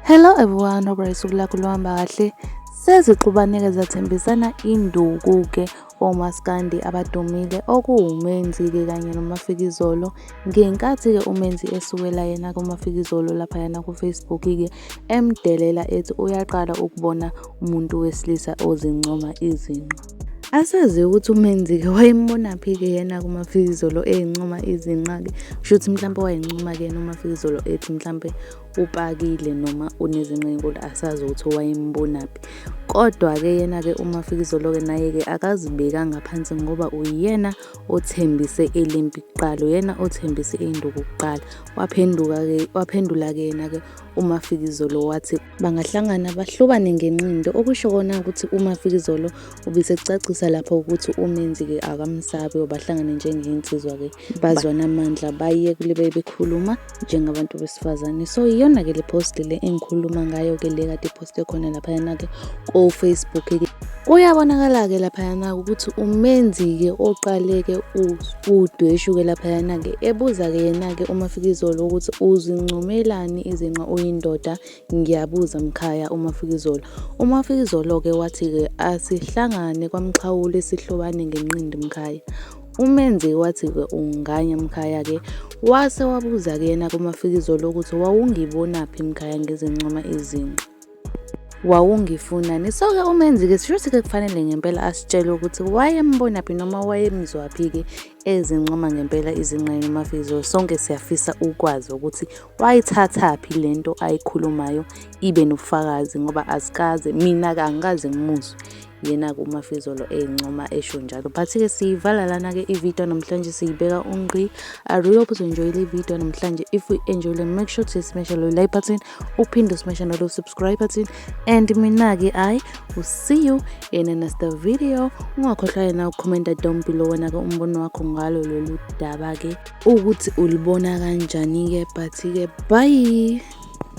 Hello everyone, hope usuku lakho luhamba kahle. Sezixubaneke zathembisana induku-ke omaskandi abadumile okuwuMenzi-ke kanye noMafikizolo ngenkathi-ke uMenzi esukela yena kuMafikizolo laphayana ku-Facebook-ke emdelela ethi uyaqala ukubona umuntu wesilisa ozincoma izinqa. Asazi ukuthi uMenzike wayembonaphi-ke yena kuMafikizolo eyincoma izinqa-ke. Kusho ukuthi mhlampe wayincoma-ke yena uMafikizolo ethi mhlampe upakile noma unezinqa enkulu asazi ukuthi wayembonaphi. Kodwa-ke yena-ke uMafikizolo-ke naye-ke akazibekanga phansi ngoba uyena othembise elimpi kuqala, uyena othembise induku kuqala. Waphenduka-ke waphendula-ke yena-ke uMafikizolo wathi bangahlangana bahlobane ngenqindo okusho kona ukuthi umafikizolo ubisekucacisa lapho ukuthi umenzi-ke akamsabi obahlangane njengeyinsizwa-ke bazwana amandla baye kule bebekhuluma njengabantu besifazane so iyona-ke le post le engikhuluma ngayo-ke le kade iposte khona laphayana-ke kofacebook kuyabonakala-ke laphayana ukuthi umenzi-ke oqaleke udweshuke laphayana-ke ebuza-ke yena-ke umafikizolo ukuthi uzincomelani izinqa uyindoda ngiyabuza mkhaya umafikizolo umafikizolo-ke wathi-ke asihlangane kwamxhawule sihlobane ngenqindi mkhaya umenzi wathi-ke unganya mkhaya-ke wase wabuza-ke yena kumafikizolo ukuthi wawungibonaphi mkhaya ngizincoma izinqa wawungifuna ni so-ke umenzi-ke sisho ukuthi-ke kufanele ngempela asitshele ukuthi wayembonaphi noma wayemzwaphi-ke ezincoma ngempela izingqayo umafizo sonke siyafisa ukwazi ukuthi wayithathaphi le nto ayikhulumayo ibe nobufakazi ngoba azikaze mina-ke angikaze ngimuzwe yena-ke umafizolo eyincoma esho njalo but-ke siyivala lana-ke ividiyo namhlanje siyibeka ungqi i really hope uzoyinjoyile ividiyo namhlanje if we enjoyile make sure to smash lo like button uphinde usimeshe nalo subscribe button and mina-ke i will see you in another video ungakhohlwa yena ukhomenta down below wena-ke umbono wakho ngalo lolu daba-ke ukuthi ulibona kanjani-ke but-ke bye